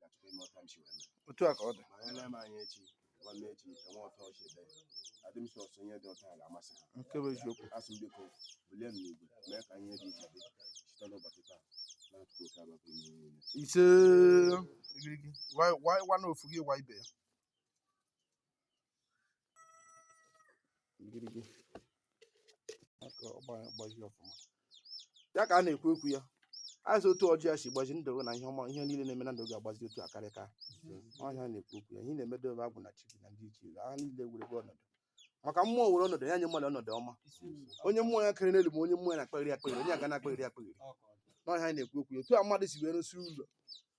ga-achọta ime ọta mchi wee mee otu a ka ọ dị ma ya na-eme anyị echi nwanne echi enwe ọta ọchị ebe adị m sọsọ ihe dị otu a ga-amasị ha nke bụ eziokwu asị m biko bulie m n'igwe mee ka ihe dị iche dị site n'ụbọchị taa na-atụkọ oke abakọ ime ihe niile isee igirigi wa wa wa na ofu gị wa ibe ya ngirigi aka ọgbaji ọfụma ya ka a na-ekwu okwu ya asị otu ọjị a si gbaji ndụ gị na ihe ọma ihe niile na-eme na ndụ gị agbazi otu akaraka onye a na-ekwu okwu ya ihe na-emedo ebe agwụ na chi gị na ndị ichie gị ha niile werebe ọnọdụ maka mmụọ were ọnọdụ ya nye mmadụ ọnọdụ ọma onye mmụọ ya karịrị n'elu ma onye mmụọ ya na-akpagharị akpagharị onye agwụ na-akpagharị akpagharị n'ọhịa anyị na-ekwu okwu ya otu a mmadụ si wee rụsi ụlọ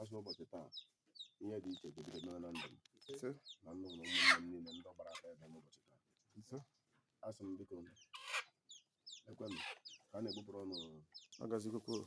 asị ụbọchị taa ihe dị iche bidoro mere na ndụ m na n'ụlọ ụmụnne m niile ndị gbara aka ebe n'ụbọchị taa asị m biko ekwe m ka a na-egbupụrụ ọnụ agazikwukwuru